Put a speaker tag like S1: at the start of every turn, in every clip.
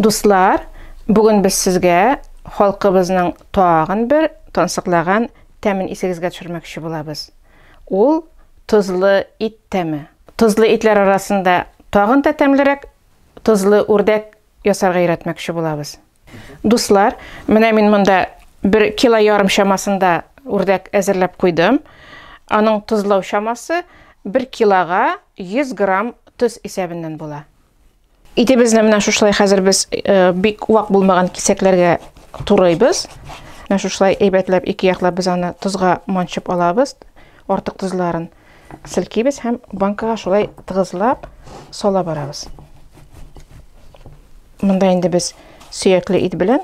S1: Дуслар, бүген без сезгә халкыбызның тагын бер тансыклаган тәмен исегезгә төшермәкче булабыз. Ул тозлы ит тәме. Тозлы итләр арасында тагын да тәмлерәк тозлы үрдәк ясарга өйрәтмәкче булабыз. Дуслар, менә мин монда бер кило ярым чамасында үрдәк әзерләп куйдым. Аның тозлау чамасы 1 килога 100 грамм тоз исәбеннән була. Итебезне менә шушылай хәзер без э, бик вак булмаган кисәкләргә турыйбыз. Менә шушылай әйбәтләп ике яклап без аны тозга манчып алабыз. Артык тозларын селкибез һәм банкага шулай тыгызлап сала барабыз. Монда инде без сөякле ит белән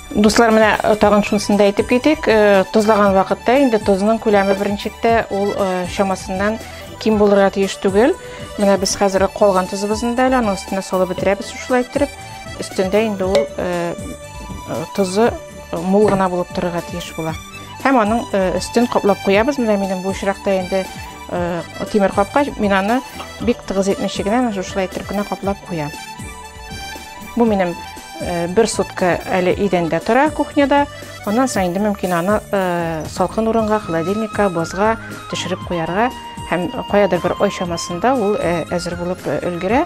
S1: Дуслар, менә э, тагын шунысын да әйтеп китик. Э, тозлаган вакытта инде тозның күләме беренчектә ул э, чамасыннан ким булырга тиеш түгел. Менә без хәзер калган тозыбызны да әле аның өстенә салып бетерәбез шулай иттереп. Өстендә инде ул тозы мул гына булып торырга тиеш була. Һәм аның өстен каплап куябыз. Менә минем бу очракта инде тимер капкач, мин аны бик тыгыз итмичә генә шулай иттереп кенә каплап куям. Бу минем э, бер сутка әле идәндә тора кухняда. Аннан соң инде мөмкин аны э, салкын урынга, холодильникка, бозга төшереп куярга һәм каядыр бер ай чамасында ул э, әзер булып өлгерә.